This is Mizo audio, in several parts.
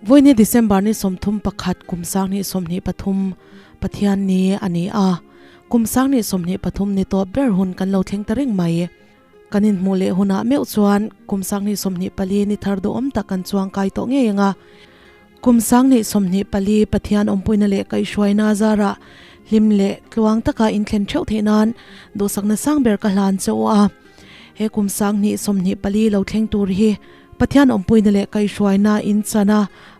Vawiini December ni sawmthum pakhat, kum sang ni sawmhnih pathum Pathian ni a ni a, kum sang ni sawmhnih pathum ni tawp ber hun kan lo thleng ta reng mai. Kan inhmuh leh hunah meuh chuan kum sanghnih sawmhnih pali ni thar duh awm tak kan chuang kai tawh ngei ang a. Kum sanghnih sawmhnih pali Pathian awmpuina leh kaihhruaina zara hlim leh tluang taka inthlen theuh theih nan duhsakna sang ber ka hlan che awh a. He kum sanghnih sawmhnih pali lo thleng tur hi Pathian awmpuina leh kaihhruaina in chana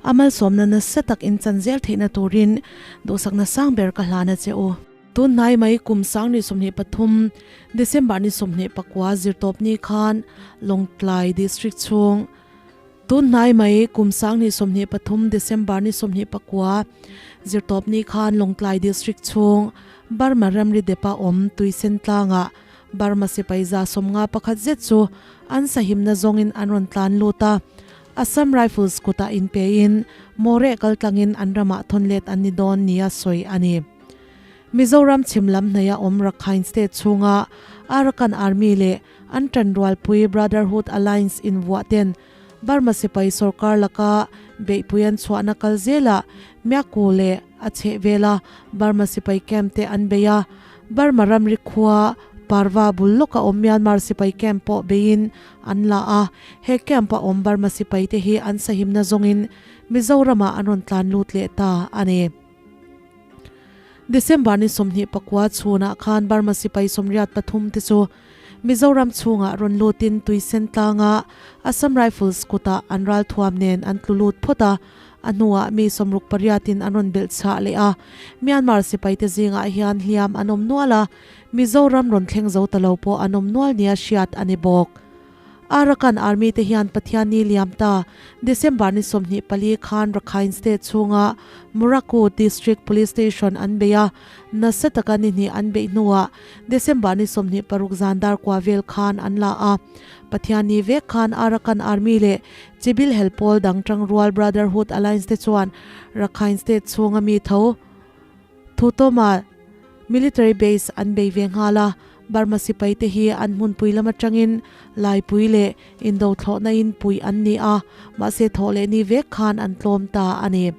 a malsawmna nasa tak in chan zel theihna turin duhsakna sang ber ka hlan a che u. Tunhnai mai kum sangni sawmhnih pathum, Decemberni sawmhnih pakua zirtawpni khan Lawngtlai District chhung Tunhnai mai kum sangni sawmhnih pathum, Decemberni sawmhnih pakua zirtawpni khan Lawngtlai District chhung Burma Ramri Depa awm Tuisen tlanga Burma sipai zahsawm nga pakhat zet chu an sahimna zawngin an rawn tlan lut a, Assam Rifles kutah inpein mawreh kaltlangin an ramah thawnlet an ni dawn nia sawi a ni. Mizoram chhim lam hnaihah awm Rakhine State chhunga Arakan Army leh an tanrualpui Brotherhood Alliance invuahten Burma sipai sorkar laka beihpui an chhuahna kal zela Myaku leh a chheh vela Burma sipai camp te an beih a. Burma ramri khua Parva bul lawka awm Myanmar sipai camp pawh beiin an la a. He camp ah awm Burma sipai te hi an sahimna zawngin Mizorama an rawn tlan lut leh ta a ni. December ni sawmhnih pakua chhunah khan Burma sipai sawmriat pathum te chu Mizoram chhungah rawn lutin tuisen tlanga Assam Rifles kutah an ral thuam nen an tlu lut phawt a, a hnuah mi sawmruk pariatin an rawn belh chhah leh a. Myanmar sipaite zingah hian hliam an awm nual a, Mizoram rawn thleng zo ta lo pawh an awm nual nia hriat a ni bawk. Arakan Army te hian Pathian ni liam ta December ni sawmhnih pali khan Rakhine State chhunga Muraku District Police Station an beih a, nasa taka ni hnih an beih hnuah December ni sawmhnih paruk zan dar kua vel khan an la a. Pathian ni vek khan Arakan Army leh Chibil hel pawl dang tang rual Brotherhood Alliance te chuan Rakhine State chhunga mi tho, Thutawma Military Base an bei ve nghal a, Burma sipai te hi an hmunpui lam atangin Laipui leh Indo thlawhna in pui an ni a, mahse thawh leh ni vek khan an tlawm ta a ni.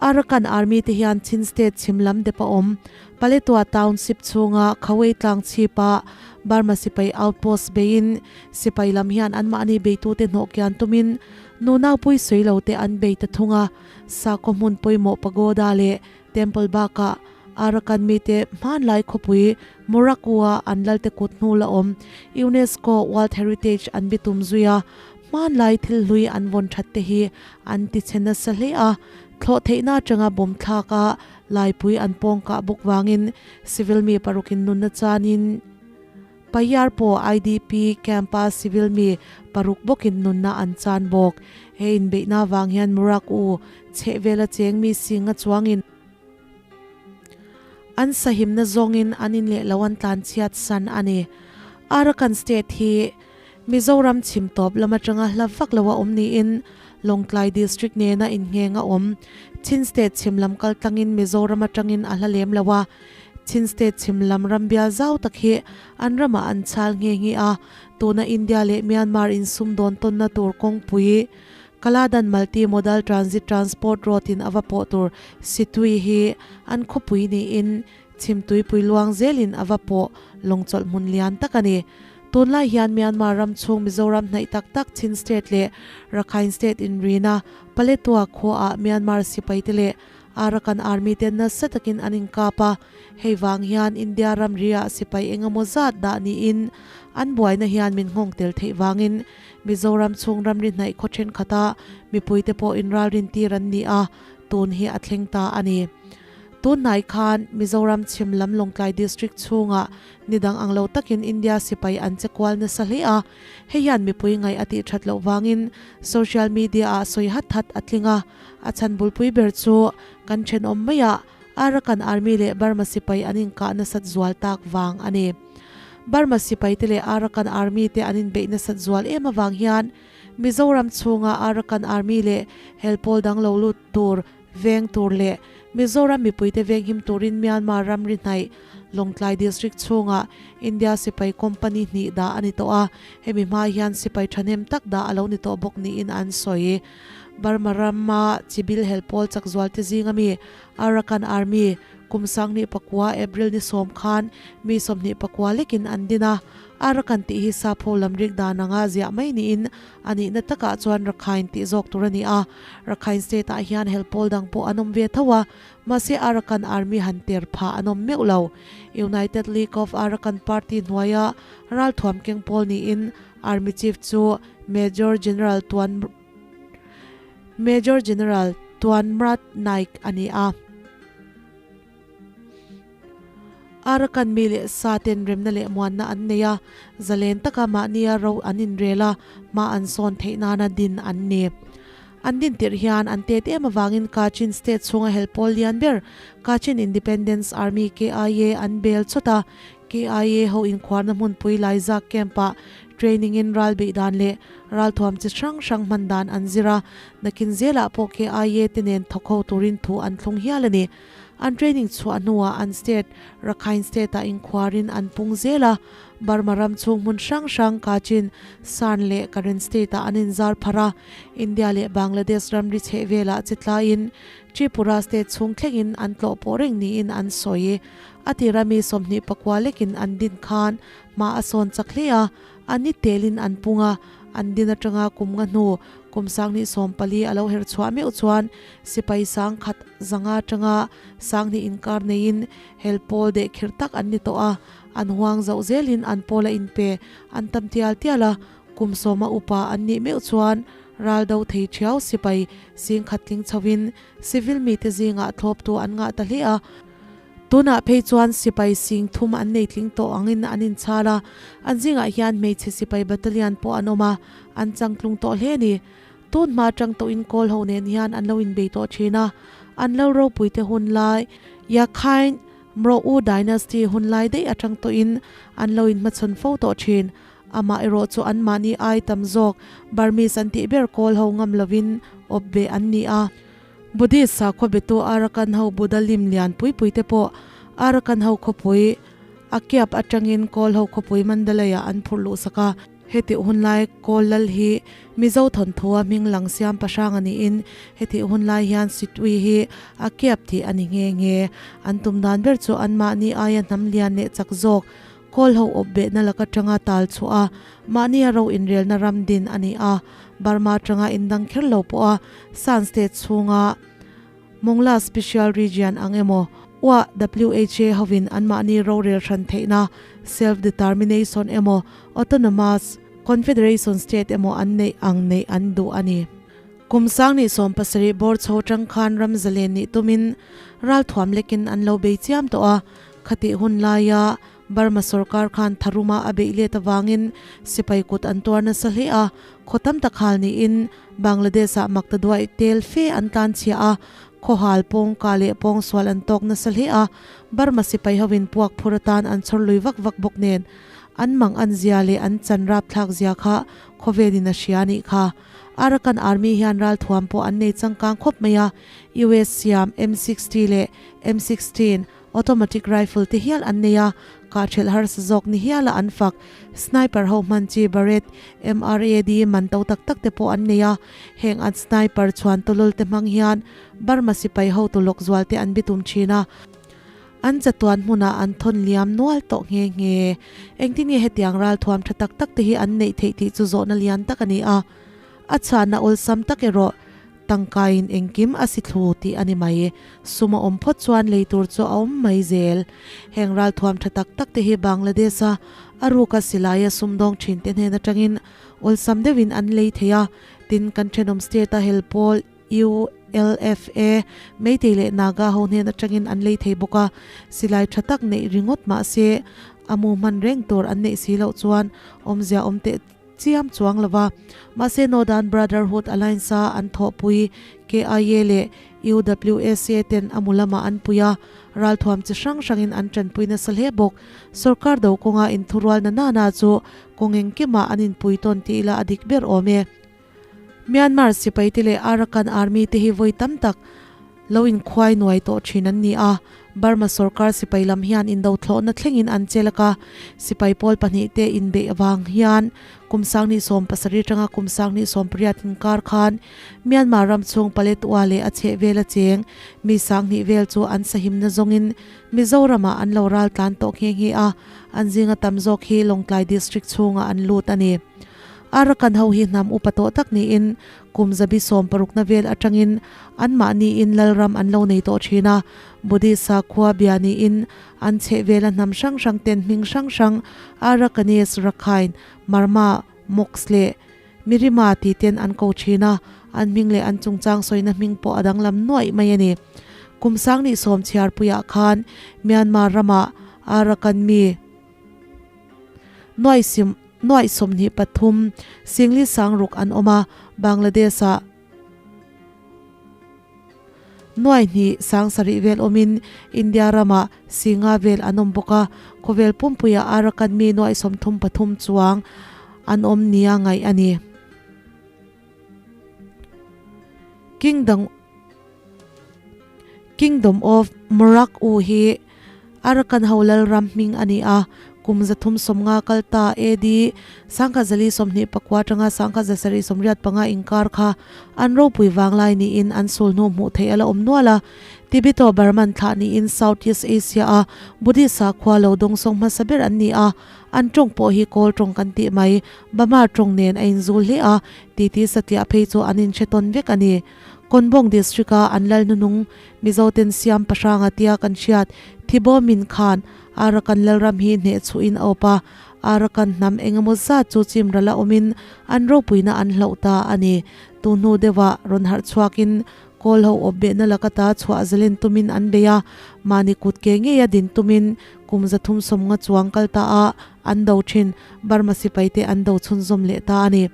Arakan Army te hian Chin State chhim lam dep a awm Paletwa Township chhunga Khawei tlang chhip ah Burma sipai outpost bei in sipai lam hian an mahni beitu te hnawh kian tum in Nunaupui sawi lo te an bei ta thung a, Sakawhmun pawimawh pagoda leh Temple bakah Arakan mite hmanlai khawpui Morocco-a an lalte kut hnu la awm UNESCO World Heritage an bitum zui a, hmanlai thil hlui an vawn that te hi an tichhe nasa hle a. Thlawh theihna atanga bawmthlak a laipui an pawngkah bawk vangin civil mi paruk in nunna chanin, Payarpo IDP camp-a civil mi paruk bawkin nunna an chan bawk. He inbeihna vang hian Murak U chheh vela cheng mi singa chuangin an sahimna zawngin an in leh lo an tlanchhiat san a ni. Arakan state hi Mizoram chhim tawp lam atanga hla vak lo a awm niin Lawngtlai district nena inheng a awm. Chin state chhim lam kal tlangin Mizoram atangin a hla lem lo a. Chin state chhim lam rambial zau tak hi an ramah an chal nghe nghe a, tuna India leh Myanmar insum dawn tawnna tur kawngpui Kaladan Multi Modal Transit Transport Road in a va pawh tur situi hi an khawpui niin chhim tuipui luang zel in a va pawh lawngchawlh hmun lian tak a ni. Tunlai hian Myanmar ram chhung Mizoram hnaih tak tak Chin state leh Rakhine state inrina Paletwa khua ah Myanmar sipai te leh Arakan Army te nasa takin an inkap a, hei vang hian India ramri ah sipai eng emaw zat dah niin an buaina hian min nghawng tel theih vangin Mizoram chhung ramri hnaih khaw thenkhat ah mipui te pawh inral rintir an ni a, tun hi a thleng ta a ni. Tunhnai khan Mizoram chhim lam Lawngtlai District chhung ah ni dang ang lo takin India sipai an che kual nasa hle a, hei hian mipui ngaih a tih that loh vangin social media ah sawi hat hat a tling a, A chhanbulpui ber chu kan thenawm maia Arakan Army leh Burma sipai an inkah nasat zual tak vang a ni. Burma sipai te leh Arakan Army te an inbeih nasat zual em avang hian Mizoram chhunga Arakan Army leh helpawl dang lo lut tur veng tur leh Mizoram mipuite venghim turin Myanmar ram ri hnaih Lawngtlai District chhunga India sipai company hnih dah a ni tawh a, hemi hma hian sipai thahnem tak dah a lo ni tawh bawk niin an sawi. Burma rama chibil hel pawl chakzualte zinga mi Arakan Army kum sanghnih pakua, April ni sawm, khan mi sawmhnih pakua lekin an din a. Arakan tih hi sapho lamrik dan anga ziah mai niin a nihna takah chuan Rakhine tih zawk tur a ni a. Rakhine state ah hian hel pawl dang pawh an awm ve tho a, mahse Arakan Army han ter phah an awm meuh lo. United League of Arakan Party hnuaia ralthuam keng pawl niin, Army Chief chu Major General Tuan Major General Tuan Mrat Naik a ni a. Arakan mi leh sa ten remna leh muanna an nei a, zalen taka mahnia ro an inrel a, hma an sawn theih nana din an ni. An din tirh hian an tet em avangin Kachin State chhunga hel pawl lian ber, Kachin Independence Army, KIA, an bel chawt a. KIA ho inkhuarna hmunpui laizak camp-ah training-in ral beih dan leh ralthuam chi hrang hrang hman dan an zir a, nakin zelah pawh KIA te nen thawk ho turin thu an thlung hial a ni. An training chhuah hnuah an state Rakhine State-ah inkhuarin an pung zel a, Burma ram chhung hmun hrang hrang, Kachin, Shan leh Karen State-ah an inzar phar a, India leh Bangladesh ramri chheh velah che tlaiin Tripura State chhung thlengin an tlawh pawh reng niin an sawi. A tira mi sawmhnih pakua lekin an din khan hma a sawn chak hle a, a ni telin an pung a. An din atanga kum nga hnu kum sanghnih sawm pali a lo herh chhuah meuh chuan sipai sang khat zanga tanga sanghnih inkar neiin hel pawl deh khirh tak an ni tawh a. An huang zauh zelin an pawl a inpe an tam tial tial a. Kum sawma upa an nih meuh chuan ral do thei thiau sipai singkhat tling chhoin civil mite zingah thlawptu an ngah ta hle a. Tunah phei chuan sipai sing thum an nei tling tawh angin an inchhar a, an zingah hian hmeichhe sipai battalion pawh an awm a, an chang tlung tawh hle ni. Tun hma tang tawhin Kawl ho nen hian an lo inbei tawh thin a, an lo ropui te hun lai, Yakhine, Mro U dynasty hun lai daih atang tawhin an lo inhmachhawn fo tawh thin. Amah erawh chu anmahni ai tam zawk Burmese an tih ber Kawl ho ngam lovin awp ve an ni a. Buddhist sakhaw biatu Arakan ho Buddha lim lian pui pui te pawh Arakan ho khawpui a kiap atangin Kawl ho khawpui Mandalay ah an phurh luh sak a. Hetih hun lai Kawl lal hi Mizo thawnthuaa hming lang siampahrang a niin hetih hun lai hian Sitwi hi a kiap tih a ni nghe nghe. An tum dan ber chu anmahni aia hnam lian leh chak zawk Call ho awpbehna lak atanga tal chhuah a, mahni a ro inrelna ram din a ni a, Burma atanga indang kher lo pawha Shan State chhunga Mongla Special Region ang emaw uah WHA hovin an mahni rorel hran theihna, Self Determination emaw Autonomous Confederation State emaw an neih ang neih an duh a ni. Kum sangni sawm pasarih bawr chho atang khan ramzalen nih tumin ralthuam lekin an lo bei chiam tawh a, Khatih hun laia Burma sorkar khan Tharuma a beih let avangin sipai kut an tuar nasa hle a, khaw tam tak hal niin Bangladesh ah mak ta duai tel fe an tlan chhiah a, khaw hal pawngka leh pawngsual an tawk nasa hle a, Burma sipai ho in puak phur atan an chhawr lui vak vak bawk nen an mang an zia leh an chan rap thlak zia kha khawvel in a hria a nih kha. Arakan army hian ral thuam pawh an nei changkang khawp mai a, US siam M sixty leh M sixteen Automatic rifle te hial an nei a, kahṭhelh harsa zawk ni hiala an fak. Sniper ho hman chi Barrett, MRAD man to tak tak te pawh an nei a. Heng an sniper chhuan tawlul te hmang hian Burma sipai ho tu lawk zual te an bi tum ṭhin a. An chatuan hmunah an thawn liam nual tawh nghe nghe. Engtinia hetiang ralthuam ṭha tak tak te hi an neih theih tih chu zawhna lian tak a ni a. A chhahna awlsam tak erawh. Tangkaiin engkim a si thlu tih a ni mai. Sum a awm phawt chuan lei tur chu a awm mai zel. Heng ralthuam tha tak tak te hi Bangladesh-a a ruka silaia sumdawng thin te hnen atangin awlsam deuhin an lei thei a. Tin, kan thenawm state-a hel pawl ULFA, Meitei leh Naga ho hnen atangin an lei thei bawk a. Silai tha tak neih ringawt mahse, a mu hman reng tur an neih si loh chuan awmzia awm teh chiam chuang lo va, mahse Northern Brotherhood Alliance-a an thawhpui KIA leh UWSA ten a mu lamah an pui a, ralthuam chi hrang hrangin an tanpui nasa hle bawk. Sorkar do kawnga inthurual na nana chu kawng engkimah an inpui tawn tih ila a dik ber awm e. Myanmar sipaite leh Arakan Army te hi vawi tam tak lo in khuai nuai tawh thin an ni a, Burma sorkar sipai lam hian in do thlawhna thlengin an che lak a, sipai pawl pahnih te in beih avang hian kum sangni sawm pasarih atanga kum sangni sawm pariat in kar khan Myanmar ram chhung Paletwa leh a chheh vel acheng mi sanghnih vel chu an sahimna zawngin Mizoram ah an lo ral tlan tawh nghe nghe a, an zing a tam zawk hi Lawngtlai district chhung ah an lut a ni. Ara kan ho hi hnam upa tawh tak niin kum zabi sawm parukna vel atangin anmahni in Lalram an lo nei tawh thin a. Buddhist-a khua bia niin an cheh vela hnam hrang hrang ten hming hrang hrang, Arakanese, Rakhine, Marma, Mox leh Mirima tih ten an ko thin a, an hming leh an chungchang sawina hming pawh a danglam nuaih mai a ni. Kum sang ni sawm chhiarpuiah khan Myanmar ramah Arakan mi, Nuaisim, nuaih sawmhnih pathum singli sang ruk an awm a, Bangladesh ah nuaihnih sang sarih vel awmin India ram ah si nga vel an awm bawk a. Khawvel pumpui ah Arakan mi nuaih sawmthum pathum chuang an awm nia ngaih a ni. Kingdom Kingdom of Morak U hi Arakan ho Lalram hming a ni a, kum za thum sawm nga kal ta AD sangkhat za li sawm hnih pakua tanga sangkhat za sarih sawm riat panga inkar kha an ropui vang lai niin an sul hnu hmuh theih a la awm nual a. Tibeto-Burman thlah niin South East Asia a Buddhist sakhua lo dawng sawng hmasa ber an ni a, an tawng pawh hi Kawl tawng kan tih mai. Bama tawng nen a in zul hle a, titi satliah phei chu an in hre tawn vek a ni. Kawngbawng District a an lal hnunung Mizoten siam pahrang a tia kan hriat Thibomin khan Arakan lalram hi hneh chhuh in a awp a, Arakan hnam eng emaw zat chu chim ral a awm in an ropuina an hlauh ta a ni. Tuhnu deuhah rawn harh chhuak in Kawl ho awpbehna laka ta chhuah zalen tumin an bei a, mahni kut ke ngei a din tumin kum zathum sawmnga chuang kal ta a an do thin. Burma sipai te an do chhunzawm leh ta a ni.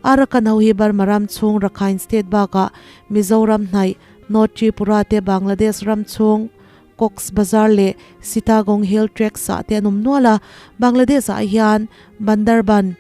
Arakan ho hi Burma ram chhung Rakhine State bakah Mizoram hnaih, North Tripura te Bangladesh ram chhung Cox's Bazar leh Sitagong Hill Tracts ah te an awm nual a. Bangladesh ah hian Bandarban,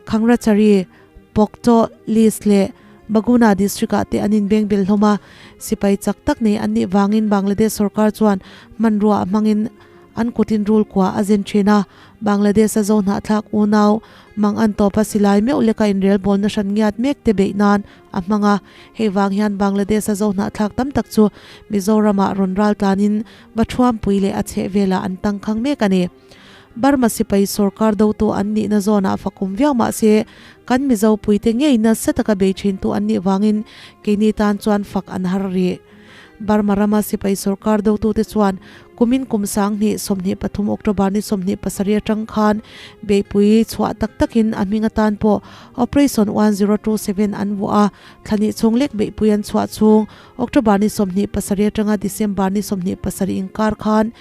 Khangrachari, Pokcho, List leh Baguna District ah te an in beng belh hlawm a. Sipai chak tak nei an nih vang in Bangladesh sorkar chuan hmanrua a hmang in an kut in rule kua a zen thin a. Bangladesh a zo hnah thlak unau mang an tawp a silai meuh lek a inrel bawl na hran ngiat mek te beih nan a hmang a. Hei vang hian Bangladesh a zo hnah thlak tam tak chu Mizoram ah rawn ral tlan in va thuam pui leh a chheh vel ah an tang khang mek a ni. Burma sipai sorkar do tawh an nihna zawnah fa kum viau mah se, kan Mizo puite ngei nasa taka bei thin tu an nih vangin keini tan chuan fak an har rih. Burma rama sipai sorkar do tute chuan kumin kum sanghni sawmhnih pathum October ni sawmhnih pasarih atang khan beihpui chhuah tak takin a hming atan pawh Operation one zero two seven an vuah a, thlani chhung lek beihpui an chhuah chung October ni sawmhnih pasarih atanga December ni sawmhnih pasarih inkar khan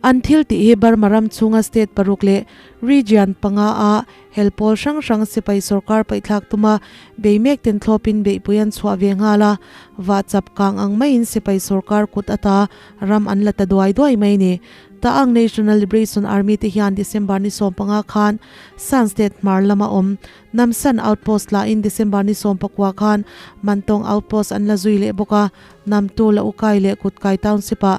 An thil tih hi Burma ram chhunga state paruk leh region panga a hel pawl hrang hrang sipai sorkar paihthlak tuma bei mek ten thlawpin beihpui an chhuah ve nghal a, vah chap kang ang maiin sipai sorkar kut ata ram an la ta duai duai mai ni. Ta'ang National Liberation Army te hian December ni sawm panga khan San state hmar lama awm Nam San outpost lahin December ni sawm pakua khan Mantong outpost an la zui leh bawk a, Namtu, Laucai leh Kutkai township ah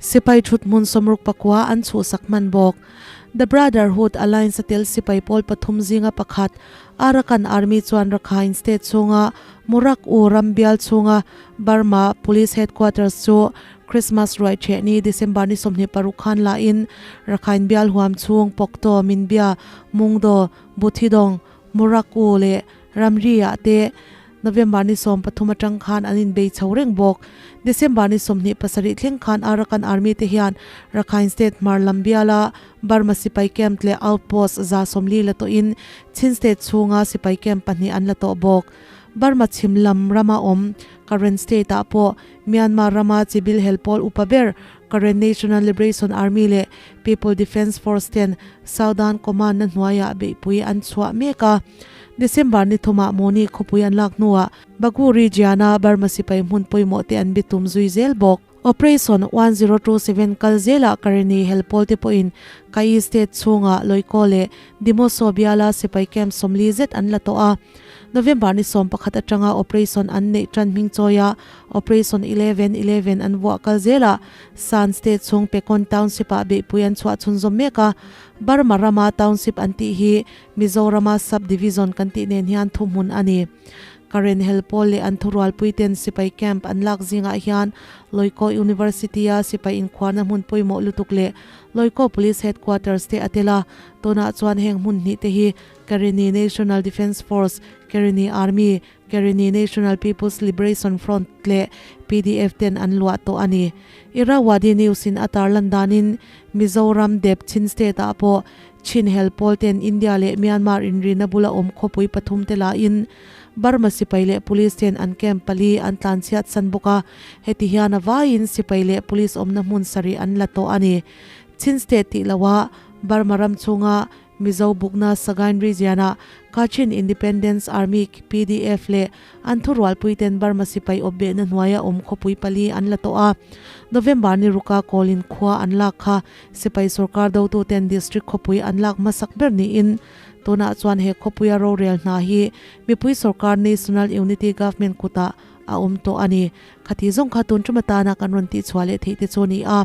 Sipai thut hmun sawmruk pakua an chhuhsak hman bawk. The Brotherhood Alliance-a tel sipai pawl pathum zinga pakhat, Arakan Army chuan Rakhine State chhunga Murak-U ram bial chhunga Burma Police Headquarters chu Christmas ruai chheh ni December ni sawmhnih paruk khan lahin Rakhine bial huam chhung Pokto, Minbya, Mungdo, Buthidong, Morocco leh Ramriah te November ni sawm pathum atang khan an inbei chho reng bawk. December ni sawmhnih pasarih thleng khan Arakan Army te hian Rakhine State hmar lam biala Burma sipai camp leh outpost za sawmli la tawhin Chin State chhunga sipai camp pahnih an la tawh bawk. Burma chhim lam rama awm Karen State ah pawh Myanmar rama chibil helpawl upa ber Karen National Liberation Army leh People Defence Force ten Southern Command-a hnuaiah beihpui an chhuah mek a. December ni thumah Moni khawpui an lak hnuah Bagu Region-a Burma sipai hmun pawimawhte an be tum zui zel bawk. Operation one zero two seven kal zelah Karen-i hel pawlte pawhin Kayi State chhunga Loikaw leh Dimawso biala sipai camp sawmli zet an la tawh a. November ni sawmpakhat atanga operation an neih tanhming chawi a, Operation Eleven, Eleven an vuah kal zel a, Shan State chhung Pekon Township ah beihpui an chhuah chhun zawm mek a. Burma ram a Township an tih hi Mizoram a Subdivision kan tih nen hian thu hmun a ni. Karen hel pawl leh an thurualpui ten sipai camp an lak zing ah hian Loikaw University a sipai inkhuarna hmun pawimawh lutuk leh Loikaw Police Headquarters te a tel a, tunah chuan heng hmun hnih te hi Karenni National Defence Force, Karenni Army, Karenni National People's Liberation Front leh PDF ten an luah tawh a ni. Irrawaddy News in a tarlan danin Mizoram, Deb, Chin State ah pawh Chin hel pawl ten India leh Myanmar inrina bula awm khawpui pathum te la in Burma sipai leh police ten an camp pali an tlanchhiatsan bawk a, heti hian a vai in sipai leh police awmna hmun sarih an la tawh a ni. Chin State tih lo a Burma ram chhunga Mizo bukna Sagaing Region ah Kachin Independence Army, KPDF, leh an thurualpui ten Burma sipai awpbehna hnuai a awm khawpui pali an la tawh a. November ni ruka kawl in khua an lak kha sipai sorkar dotu ten district khawpui an lak hmasak ber ni in. Tunah chuan he khawpuia rorel hna hi mipui sorkar National Unity Government kut ah a awm tawh a ni. Khati zawng kha tun ṭum atana kan rawn tihchhuah leh theih te chu a ni a.